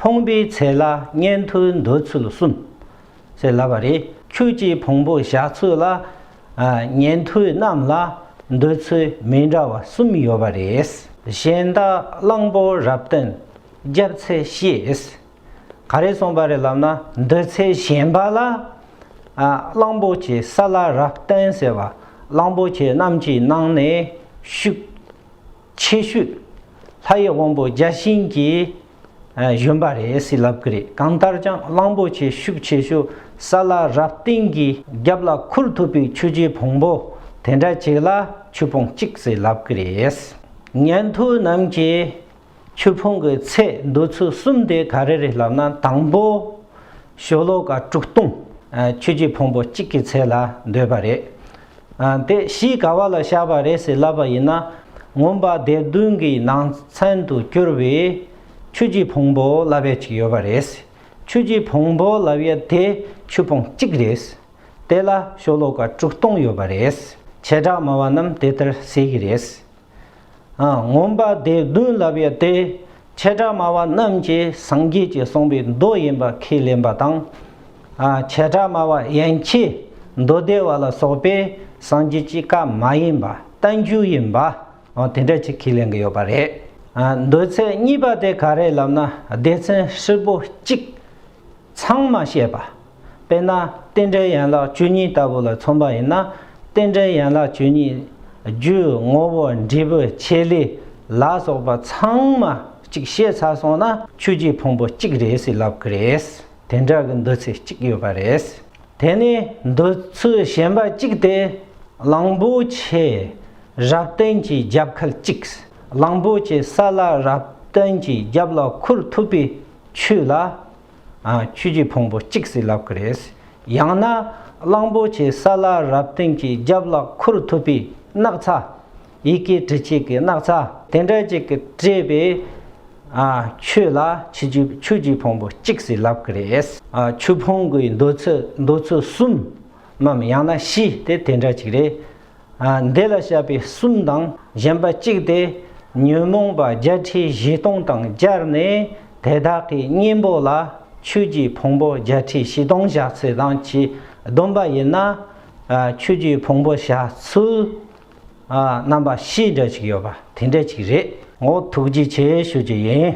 ཕོངས་པའི་ཚེ་ལ་གཉེན་དུ་འདོད་ཚུལ་གསུམ། ཞེས་ལབ་པ་རེད། ཁྱོད་ཀྱིས་ཕོངས་པོ་བཞག་ཚུལ་ལ། གཉེན་དུ་རྣམས་ལ་འདོད་ཚུལ་མི་འདྲ་བ་གསུམ་ཡོད་པ་རེད། གཞན་དག་གླང་པོ་རབ་བརྟན་བརྒྱབ་ཚེ་ཤེས། ག་རེ་གསུངས་པ་རེད་ལབ་ན་འདོད་ཚུལ་གཞན་པ་ལ། གླང་པོ་ཆེ་ས་ལ་རབ་བརྟན་ཟེར་བ་གླང་པོ་ཆེ་རྣམས་ཀྱི་ནང་ནས་ཤུགས། ཆེ་ཤོས། ལྷ་ཡི་དབང་པོ་བརྒྱ་བྱིན་གྱིས་གཞོན་པ་རེད་ཟེར་ལབ་ཀི་རེད་གང་ལྟར་ཀྱང་གླང་པོ་ཆེ་ཤུགས་ཆེ་ཤོས་ས་ལ་རབ་བརྟན་གྱི་རྒྱབ་ལ་ཁུར་ཐུབ་པའི་ཆུ་རྗེ་བོང་བུ་དེ་འདྲ་གཅིག་ལ་ཆུ་ཕུང་གཅིག་ཟེར་ལབ་ཀི་རེད། ཉན་ཐོས་རྣམས་ཀྱིས་ཆུ་ཕུང་གི་ཚད་འདོད་ཚུལ་གསུམ་དེ་ག་རེ་རེད་ལབ་ན་དང་པོ་ཞོ་ལོ་ཀ་དྲུག་སྟོང་ཆུ་རྗེ་བོང་བུ་གཅིག་གི་ཚད་ལ་འདོད་པ་རེད། དེ་གཞི་ག་བ་ལ་བཞག་པ་རེད་ཟེར་ལབ་པ་ཡིན་ན་ངོམ་པ་དེབ་བདུན་གྱི་ནང་ཚན་དུ་བསྐྱུར་བའི་ཆུ་གྱི་བོང་བུ་ལབ་ཡ་གཅིག་ཡོད་པ་རེད། ཆུ་གྱི་བོང་བུ་ལབ་ཡ་དེ་ཆུ་བོང་གཅིག་རེད། དེ་ལ་ཤོ་ལོ་ཀ་དྲུག་སྟོང་ཡོད་པ་རེད། བྱེ་བྲག་སྨྲ་བ་རྣམས་དེ་ལྟར་ཟེར་གྱི་རེད། ངོམས་པ་དེ་བདུན་ལབ་ཡོད་དེ། ཆེ་ཕྲ་དམའ་བ་རྣམས་ཀྱི་སངས་རྒྱས་ཀྱི་གསུངས་པའི་མདོ་ཡིན་པར་ཁས་ལེན་པ་དང། ཆེ་ཕྲ་དམའ་བ་ཡན་ཆད་མདོ་སྡེ་བ་ལ་སོགས་པས་སངས་རྒྱས་ཀྱི་བཀའ་མ་ཡིན་པ་རྟ་མཇུག་ཡིན་པ། དེ་འདྲ་ཅིག་ཁས་ལེན་གྱི་ཡོད་པ་རེད། མདོའི་ཚན་གཉིས་པ་དེ་ག་རེད་ལབ་ན་སྡེ་ཚན་ཧྲིལ་པོ་གཅིག་ཚང་མ་བཤད་པ་དཔེར་ན་རྟེན་འབྲེལ་ཡན་ལག་བཅུ་གཉིས་ལྟ་བུ་ལ་མཚོན་པ་ཡིན་ན་རྟེན་འབྲེལ་ཡན་ལག་བཅུ་གཉིས་རྒྱུ་ངོ་བོ་འབྲས་བུ་ཆེ་ལས་ལ་སོགས་པ་ཚང་མ་གཅིག་ཤེས་ཚར་སོང་ན་ཆོས་ཀྱི་ཕུང་པོ་གཅིག་རེད་ཟེར་ལབ་ཀི་རེད། དེ་འདྲ་གི་འདུ་ཚེགས་གཅིག་ཡོད་པ་རེད། དེ་ནི་འདོད་ཚུལ་གཞན་པ་གཅིག་སྟེ། གླང་པོ་ཆེ་རབ་བརྟན་གྱི་རྒྱབ་ཁལ་གཅིག། གླང་པོ་ཆེ་ས་ལ་རབ་བརྟན་གྱི་རྒྱབ་ལ་འཁུར་ཐུབ་པའི་ཆོས་ལ་ཆོས་ཀྱི་ཕུང་པོ་གཅིག་ཟིལ་ལག་གི་རེད། ཡང་ན་གླང་པོ་ཆེའི་ས་ལ་རབ་བརྟན་གྱི་རྒྱབ་ལ་ཁུར་ཐུབ་པའི་སྣག་ཚ། ཡི་གེ་འབྲི་བྱེད་ཀྱི་སྣག་ཚ་དེ་འདྲ་ཅིག་གིས་སྤྲས་པའི་ཆོས་ལ་ཆོས་ཀྱི་ཕུང་པོ་གཅིག་ཟིལ་ལག་གི་རེད། ཆོས་ཕུང་པོའི་འདོད་ཚུལ་གསུམ་མམ་ཡང་ན་བཞི་དེ་དེ་འདྲ་ཅིག་རེད། འདི་ལ་བྱ་བའི་གསུམ་དང་གཞན་པ་གཅིག་སྟེ། ཉོན་མོངས་པ་བརྒྱད་ཁྲི་བཞི་སྟོང་དང་སྦྱར་ནས་དེ་དག་གི་གཉེན་པོ་ལ་ཆོས་ཀྱི་ཕུང་པོ་བརྒྱད་ཁྲི་བཞི་སྟོང་བཞག་ཚུལ་དང་གྱིས་བསྡོམས་པ་ཡིན་ན། ཆོས་ཀྱི་ཕུང་པོ་བཞག་ཚུལ་རྣམ་པ་བཞི་འདྲ་ཅིག་ཡོད་པ་དེ་འདྲ་ཅིག་རེད། ངོ་ཐུགས་རྗེ་ཆེ་ཞུ་རྒྱུ་ཡིན།